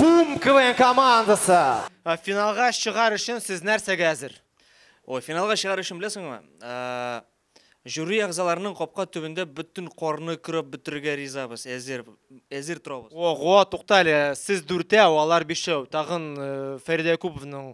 Бум КВН командасы! Ә, Финалга чыгар өчен сез нәрсәгә әзер? Ой, финалга чыгар өчен беләсеңме? Ә, Жюри әгъзаларының капка төбендә бөтен корны көрәп бетерергә ризабыз, әзер, әзер торабыз. Ого, тукта әле, сез дүртәү, алар бишәү. Тагын э, Фәридә Якуповның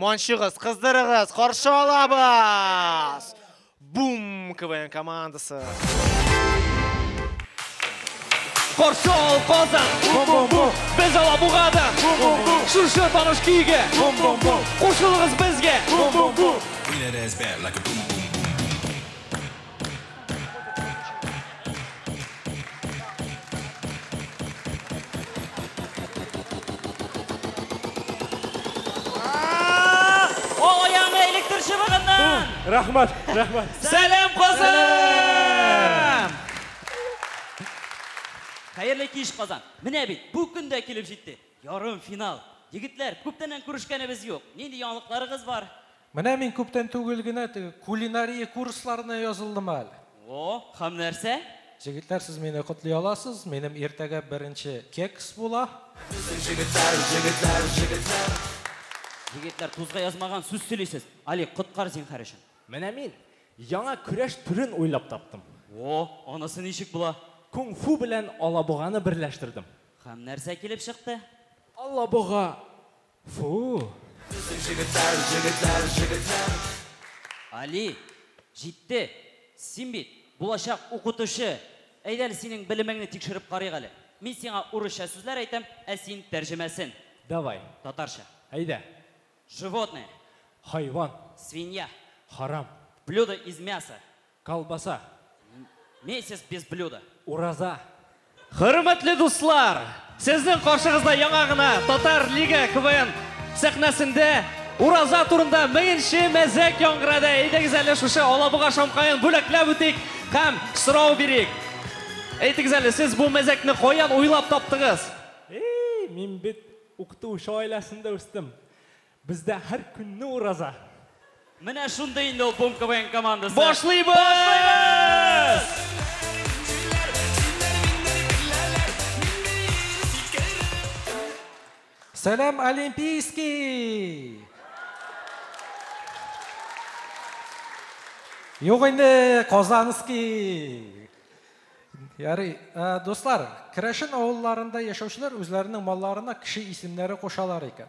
Манчыгыз, кыздырыгыз, каршы алабыз! Бум! КВН командасы. Каршы ал Казан! Бум-бум-бум! Без Алабугада! Бум-бум-бум! Шушы таныш көйгә! Бум-бум-бум! Кушылыгыз безгә! Бум-бум-бум! We let us back like a boom boom. Рахмат, рахмат. Сәлем Казан! Хәерле киш Казан. Менә бит, бу көн дә килеп җитте. Ярым финал. Егетләр, күптәннән күрешкәнебез юк. Нинди яңалыкларыгыз бар? Менә мин күптән түгел генә теге кулинария курсларына язылдым әле. О, һәм нәрсә? Җегетләр, сез мине котлый аласыз, минем иртәгә беренче кекс була. Безнең җегетләр, җегетләр, җегетләр. Егетләр, тузга язмаган сүз сөйлисез. Алик, коткар зинһар өчен. Менә мин яңа көрәш төрен уйлап таптым. О, анысы ничек була? Кунг-фу белән алабуганы берләштердем. Һәм нәрсә килеп чыкты? Алабуга Фу! Безнең җегетләр, җегетләр, җегетләр! Али, җитте! Син бит, булачак укытучы! Әйдә әле синең белемеңне тикшереп карыйк әле. Мин сиңа урысча сүзләр әйтәм, ә син тәрҗемәсен. Давай. Татарча. Әйдә. Животное. Хайван. Свинья. Харам. Блюдо из мяса. Колбаса. Месяц без блюда. Ураза. Хөрмәтле дуслар! Сезнең каршыгызда яңа гына Татар Лига КВН сәхнәсендә Ураза турында меңенче мәзәк яңгырады. Әйдәгез әле шушы Алабуга шамкаен бүләкләп үтик һәм сорау бирик. Әйтегез әле, сез бу мәзәкне каян уйлап таптыгыз? Эй, мин бит укытучы гаиләсендә үстем. Бездә һәр көнне ураза. Менә шундый инде ул Бум КВН командасы. Башлыйбыз! Сәлам, Олимпийский! Юк инде, Казанский! Ярый, дуслар, керәшен авылларында яшәүчеләр үзләренең малларына кеше исемнәре кушалар икән.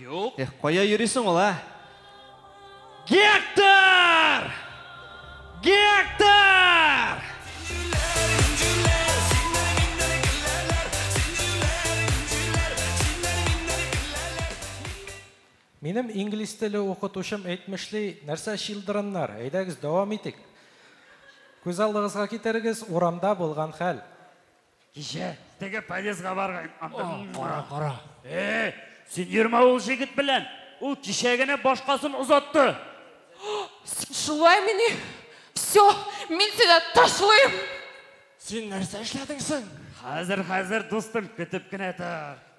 Юк. Эх, кая йөрисең ул, а? Гектор! Гектор! Минем инглиз теле укытучым әйтмешли, нәрсә чилдырыннар, әйдәгез дәвам итик. Күз алдыгызга китерегез, урамда булган хәл. Кичә теге подъездга барган. Кара, кара. Э, син йөрмә ул җегет белән. Ул кичә генә башкасын озатты. Син шулай мени? Все, мин сине ташлыйм. Син нәрсә эшләдең соң? Хәзер, хәзер, дустым, көтеп кенә тор.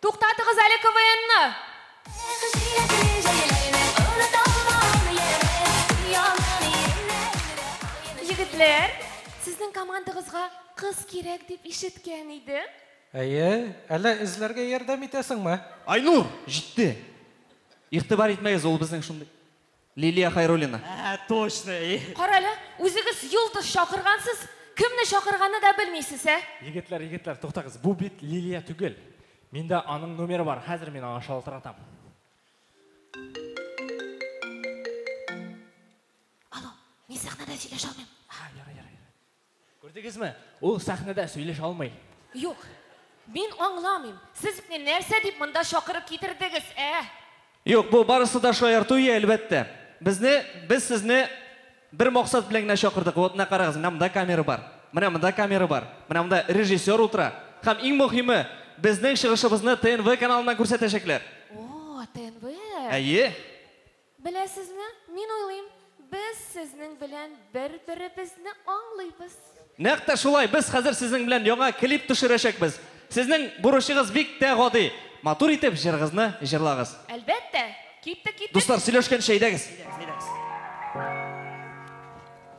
Туктатыгыз әле КВНны! Егетләр, сезнең командагызга кыз кирәк дип ишеткән идем. Әйе, әллә эзләргә ярдәм итәсеңме? Айнур, җитте! Игътибар итмәгез, ул безнең шундый. Лилия Хайруллина. Әһә, точно, и. Карале, үзегез йолдыз чакыргансыз, кемне чакырганны да белмисез, ә? Егетләр, егетләр, туктагыз, бу бит Лилия түгел. Миндә аның номеры бар, хәзер мин аңа шалтыратам. Алло, мин сәхнәдә сөйләшә алмыйм. Ха, ярый, ярый. Күрдегезме, ул сәхнәдә сөйләшә алмый. Юк. Мин аңламыйм, сез мине нәрсә дип монда чакырып китердегез, ә? Юк, бу барысы да шаярту и, әлбәттә. Безне, без сезне бер максат белән генә чакырдык. Вот, менә карагыз, менә монда камера бар, менә монда камера бар, менә монда режиссер утыра. Һәм иң мөһиме, безнең чыгышыбызны ТНВ каналыннан күрсәтәчәкләр. О, ТНВ! Әйе. Беләсезме, мин уйлыйм, без сезнең белән бер-беребезне аңлыйбыз. Нәкъ тә шулай, без хәзер сезнең белән яңа клип төшерәчәкбез. Сезнең бурычыгыз бик тә гади, матур итеп җырыгызны җырлагыз. Әлбәттә, киттек, киттек! Дуслар, сөйләшкәнче әйдәгез. Әйдәгез, әйдәгез.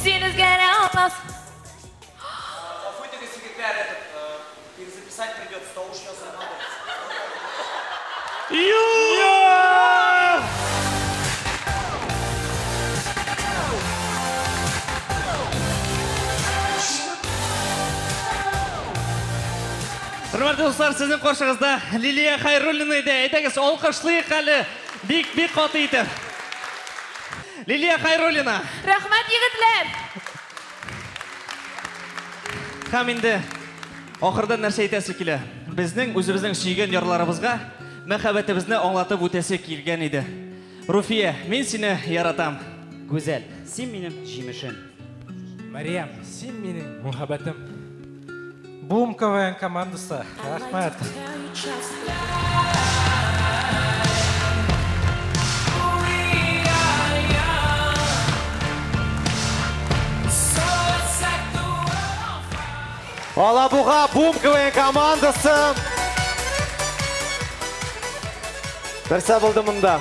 Син үзгәрә алмассың. Гафу итегез, егетләр, этот, перезаписать придется, тавыш ясалган дөрес. Хөрмәтле дуслар, сезнең каршыгызда Лилия Хәйруллина иде. Әйдәгез, алкышлыйк әле бик-бик каты итеп. Лилия Хайруллина! Рәхмәт, егетләр! Һәм инде ахырдан нәрсә әйтәсе килә? Безнең үзебезнең сөйгән ярларыбызга мәхәббәтебезне аңлатып үтәсе килгән иде. Руфия, мин сине яратам. Гүзәл, син минем җимешем. Мәрьям, син минем мөхәббәтем. Бум КВН командасы, рәхмәт. Алабуга Бум КВН командасы. Берсә булды монда.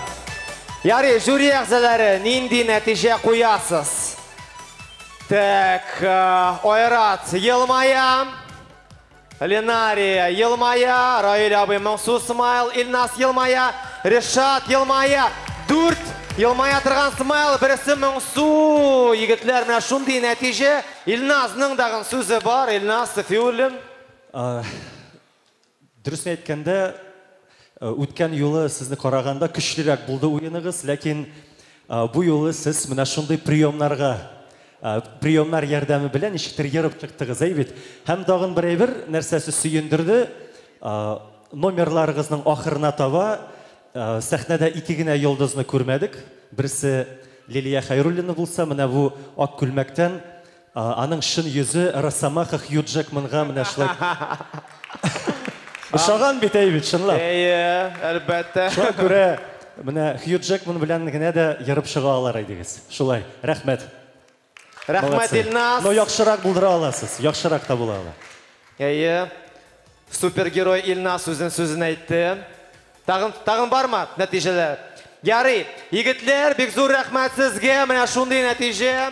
Ярый, жюри әгъзалары, нинди нәтиҗә куясыз? Так, э, Айрат елмая. Ленария елмая. Раиль абый моңсу смайл. Илнас елмая. Решат елмая. Дүрт елмая торган смайл. Бересе моңсу. Егетләр, менә шундый нәтиҗә. Илназның дагын сүзе бар. Илнас Сафиуллин. Э, Дөресен әйткәндә, үткән юлы сезне караганда көчлерәк булды уеныгыз, ләкин бу юлы сез менә шундый приемнарга приемнар ярдәме белән ничектер ерып чыктыгыз, әй бит. Һәм тагын бер әйбер, нәрсәсе сөендерде, номерларыгызның ахырына таба сәхнәдә ике генә йолдызны күрмәдек. Берсе Лилия Хәйруллина булса, менә бу ак күлмәктән Аның чын йөзе Росомаха Хью Джекманга менә шулай ошаган бит, әй бит, чынлап. Әйе, әлбәттә. Шуңа күрә менә Хью Джекман белән генә дә ерып чыга алар идегез. Шулай. Рәхмәт. Рәхмәт, Илназ. Но яхшырак булдыра аласыз. Яхшырак та була ала. Әйе. Супергерой Илназ үзен сүзен әйтте. Тагын, тагын бармы нәтиҗәләр? Ярый, егетләр, бик зур рәхмәт сезгә, менә шундый нәтиҗә.